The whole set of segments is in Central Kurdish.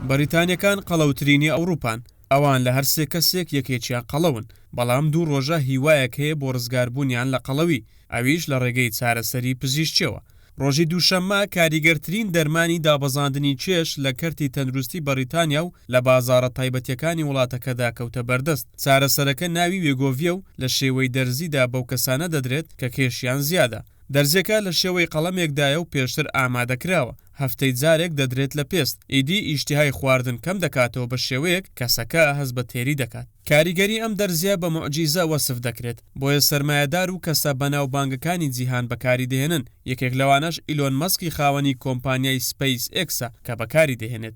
بەریتانیەکان قەڵەوترینی ئەوروپان، ئەوان لە هەر سێ کەسێک یەکێکیان قەڵەون، بەڵام دوو ڕۆژە هیوایەک هەیە بۆ ڕزگاربوونیان لە قەڵەوی، ئەویش لە ڕێگەی چارەسەری پزیشکیەوە. ڕۆژی دووشەممە کاریگەرترین دەرمانی دابەزاندنی کێش لە کەرتی تەندروستی بەڕیتانیا و لە بازاڕە تایبەتیەکانی وڵاتەکەدا کەوتە بەردەست، چارەسەرەکە ناوی وێگۆڤیە و لە شێوەی دەرزیدا بەو کەسانە دەدرێت کە کێشیان زیادە. دەرزیەکە لە شێوەی قەڵەمێکدایە و پێشتر ئامادەکراوە، هەفتەی جارێک دەدرێت لە پێست، ئیدی ئیشتیهای خواردن کەم دەکاتەوە بە شێوەیەک کەسەکە هەست بە تێری دەکات. کاریگەری ئەم دەرزیە بە موعجیزە وەسف دەکرێت، بۆیە سەرمایەدار و کەسە بەناوبانگەکانی جیهان بەکاری دەهێنن، یەکێک لەوانەش ئیلۆن مەسکی خاوەنی کۆمپانیای سپەیس ئێکسە کە بەکاری دەهێنێت.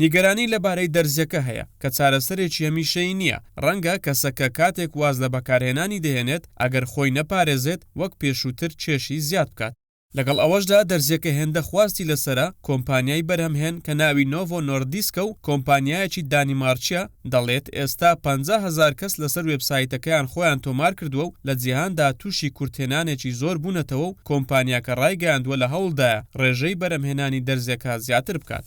نیگەرانی لەبارەی دەرزیەکە هەیە، کە چارەسەرێکی هەمیشەیی نییە، ڕەنگە کەسەکە کاتێک واز لە بەکارهێنانی دەهێنێت، ئەگەر خۆی نەپارێزێت وەک پێشووتر کێشی زیاد بکات. لەگەڵ ئەوەشدا دەرزیەکە هێندە خواستی لەسەرە، کۆمپانیای بەرهەمهێن کە ناوی نۆڤۆ نۆردیسکە و کۆمپانیایەکی دانیمارکییە، دەڵێت ئێستا پەنجا هەزار کەس لەسەر وێبسایتەکەیان خۆیان تۆمارکردووە و لە جیهاندا تووشی کورتهێنانێکی زۆر بوونەتەوە و کۆمپانیاکە ڕایگەیاندووە لە هەوڵدایە ڕێژەی بەرەمهێنانی دەرزیەکە زیاتر بکات.